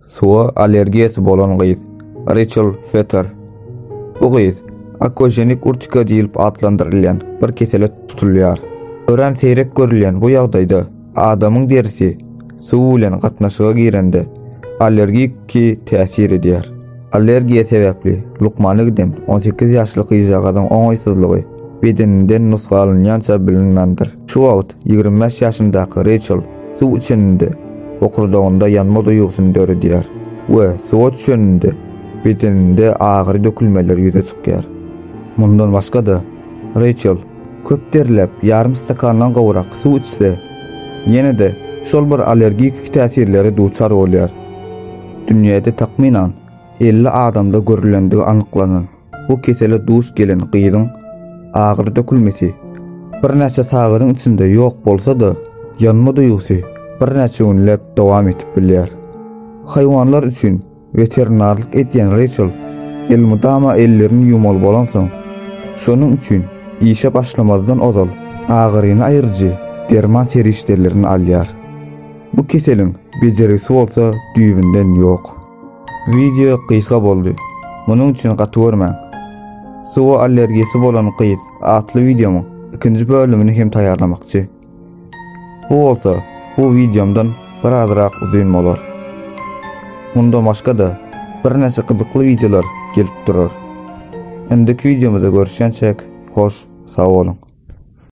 Suwa allergiýasy bolan gyz, Reçel Fetter. Bu gyz akoženik urtika diýlip atlandyrylýan bir kesele tutulýar. Örän seýrek görülýän bu ýagdaýda adamyň derisi suw bilen gatnaşyga girende allergiki täsir edýär. Allergiýa sebäpli lukmana giden on sekiz ýaşly gyzjagazyň oňaýsyzlygy bedeninden nusga alynýança bilinmändir. Şu wagt Ýigrimi bäş ýaşyndaky Reýçel suw içeninde bokurdagynda ýanma duýgusyny döredýär we suwa düşeninde bedeninde agyry dökülmeler ýüze çykýar. Mundan başga-da, Reýçel köp derläp ýarym stakandan gowrak suw içse, ýene-de şol bir allergiki täsirlere duçar bolýar. Dünýäde takmynan elli adamda görülendigi anyklanan. Bu kesele duş gelen gyzyň agyr dökülmesi birnäçe sagadyň içinde ýok bolsa-da, ýanma duýgusy birnäçe günläp dowam edip bilýär. Haýwanlar üçin weterinarlyk edýän Reýçel elmydama ellerini ýuwmaly bolansoň, şonuň üçin işe başlamazdan ozal agyryny aýyryjy derman serişdelerini alýar. Bu keseliň bejergisi bolsa düýbünden ýok. Wideo gysga boldy. Munuň üçin gaty görmäň. Suwa allergiýasy bolan gyz atly wideomyň ikinji bölümini hem taýýarlamakçy. Bu bolsa bu wideomdan bir azrak uzyn bolar. Munda başga-da birnäçe gyzykly wideolar gelip durar. Indiki wideomyzda görüşýänçäk, hoş sag boluň.